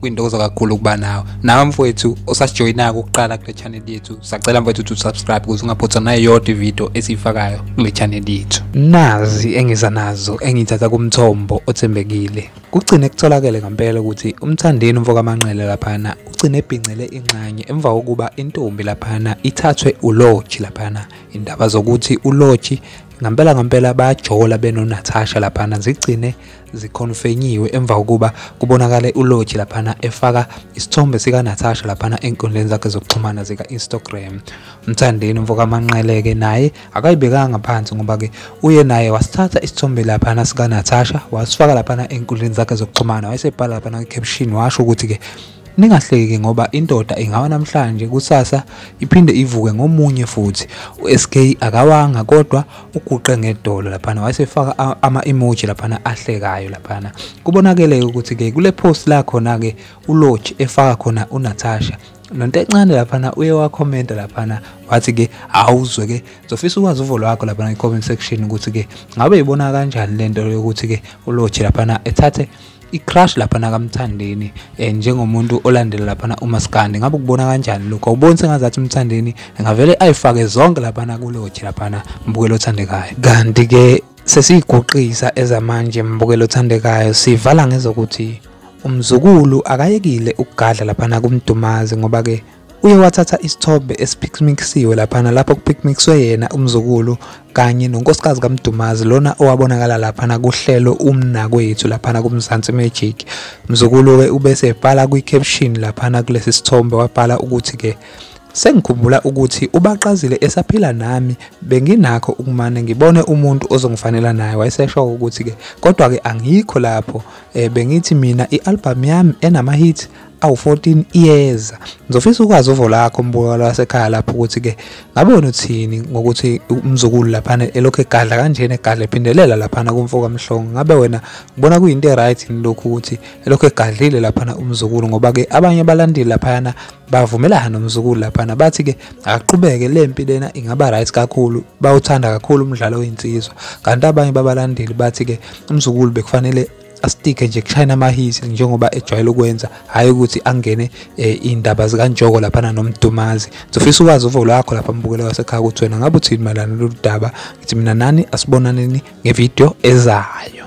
kwintokozo kakhulu ukuba nawe nawe mfowethu osasijoyinako ukuqala kule channel yethu sacela mfowethu ukuthi usubscribe ukuze ungaphothwa nayo yodwa ividiyo esiyifakayo kule channel yethu nazi engiza nazo engithatha kumthombo othembekile kugcine kutholakele ngempela ukuthi umthandeni umfokamanqele laphana ugcine ebhincele inxanye emva kokuba intombi laphana ithathwe uloji laphana indaba zokuthi uloji ngampela ngampela bayajola benonatasha laphana zigcine zikhonfenyiwe emva kokuba kubonakale uLoji laphana efaka isithombe sikaNatasha laphana enkundleni zakhe zokuxhumana zika-Instagram. Mthandeni umfokamanqeleke naye akayibekanga phansi ngoba-ke uye naye wasithatha isithombe laphana sikaNatasha wasifaka laphana enkundleni zakhe zokuxhumana wayesebhala laphana kwi-caption washo ukuthi-ke Ningahleki ngoba indoda ingawa namhlanje kusasa iphinde ivuke ngomunye futhi. USK akawanga kodwa uguqe ngedolo laphana wayesefaka ama emoji laphana ahlekayo laphana. Kubonakele ukuthi ke kule post la khona ke uLodge efaka khona uNatasha nonto encane laphana uye wakhomenta laphana wathi ke awuzwe ke zofisa ukwazi uvo lwakho laphana i-comment section ukuthi ke ngabe ibona kanjani lento yokuthi ke uLodge laphana ethathe i-crush lapha nakamthandeni eh, njengomuntu olandela laphana umaskandi ngabe ukubona kanjani lokho awuboni sengazathi umthandeni ngavele ayifake zonke laphana kuloji laphana mbukelo othandekayo kanti-ke sesiyiguqisa ezamanje mbukelo othandekayo sivala ngezokuthi umzukulu akayekile ukugadla laphana kumdumazi ngoba-ke uye wathatha isithombe esiphikmikisiwe laphana lapho kuphikmikiswe yena umzukulu kanye nonkosikazi kaMdumazi lona owabonakala laphana kuhlelo umnakwethu laphana kuMzansi Magic mzukulu we ubese ebhala kwi-caption laphana kulesi sithombe wabhala ukuthi ke Sengikhumbula ukuthi ubaqazile esaphila nami benginakho ukumane ngibone umuntu ozongifanela naye wayesesho ukuthi ke kodwa ke angikho lapho eh, bengithi mina ialbum yami enama hit awu-14 iyeza ngizofisa ukwazi uvo lakho mbukalo wasekhaya lapho ukuthi-ke ngabe wena uthini ngokuthi umzukulu laphana elokhu egadla kanjena egadla ephindelela laphana kumfo kamhlongo ngabe wena ngibona kuyinto e-right yini lokhu ukuthi elokhu egadlile laphana umzukulu ngoba-ke abanye abalandeli laphayana bavumelana nomzukulu laphana bathi-ke akaqhubeke le mpi lena ingaba right kakhulu bawuthanda kakhulu umdlalo wey'nsizwa kanti abanye babalandeli bathi-ke umzukulu bekufanele asitike nje kushayina amahisi njengoba ejwayele ukwenza hhayi ukuthi angene eh, iy'ndaba zikantshoko laphana nomdumazi ngizofisa ukwazi uvo lwakho lapha mbukela wasekhaya ukuthi wena ngabe uthini mayelana lolu daba ngithi mina nani asibonaneni ngevidiyo ezayo